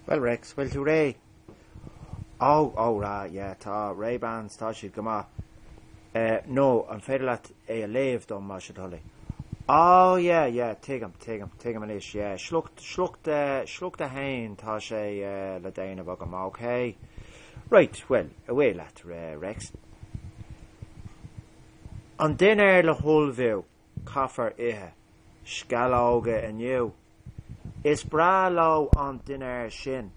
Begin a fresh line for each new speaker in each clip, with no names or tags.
Bhuel Rex, bhfuil tú réidh? Oh, oh right, yeah, tá, Ray-Bans, tá siad go maith. Eh, no, an féidir leat é a léamh dom, más é do thoil é? Oh, yeah, yeah, tuigim, tuigim, tuigim anois, yeah, sliocht, sliocht, eh, sliocht a haon, tá sé, eh, le déanamh agam, ok. Right, bhuel, away leat, Rex. An dinnéar le hullmhú, caithfear ithe. Sceallóga inniu. Is breá leo an dinnéar sin,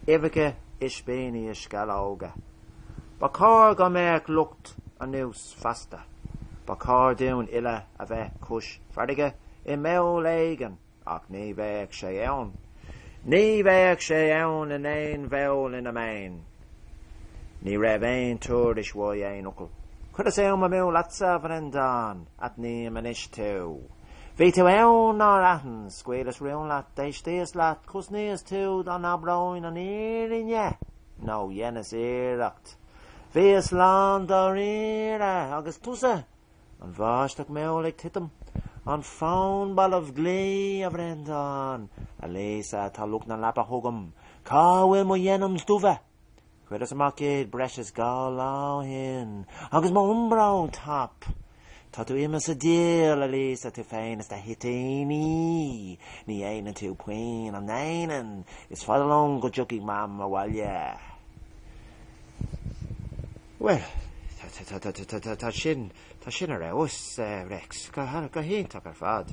uibheacha, ispíní is sceallóga. Ba chóir go mbeadh lucht anuas feasta. Ba chóir dúinn uile a bheith cois farraige i mball éigin. Ach ní bheadh sé ann. Ní bheadh sé ann in aon bhall ina mbeinn. Ní raibh aon tuairisc uaidh aon fhocal. Chuireas am amú leatsa, a Bhreandáin? Aithním anois tú. Bhí tú ann, nár aithin? Scaoileas rún leat, d'éistíos leat, chosnaíos tú, dá n-abróinn an fhírinne, nó dheineas iarracht. Bhíos lán dáiríre. Agus tusa? An bháisteach mhall ag titim, an fón balbh, glaoigh, a Bhreandáin, a Lisa, tá lucht na leapa chugam, cá bhfuil mo dhenims dubha? Chuireas amach iad breis is dhá lá ó shin, agus mo Umbro top. Tá tú imithe sa diabhal, a Lisa, tú féin is do thoitíní. Ní dhéanann tú puinn, an ndéanann? Is fada liom go dtiocfaidh Mam abhaile. Bhuel, tá sin ar fheabhas, a Rex, go hiontach ar fad.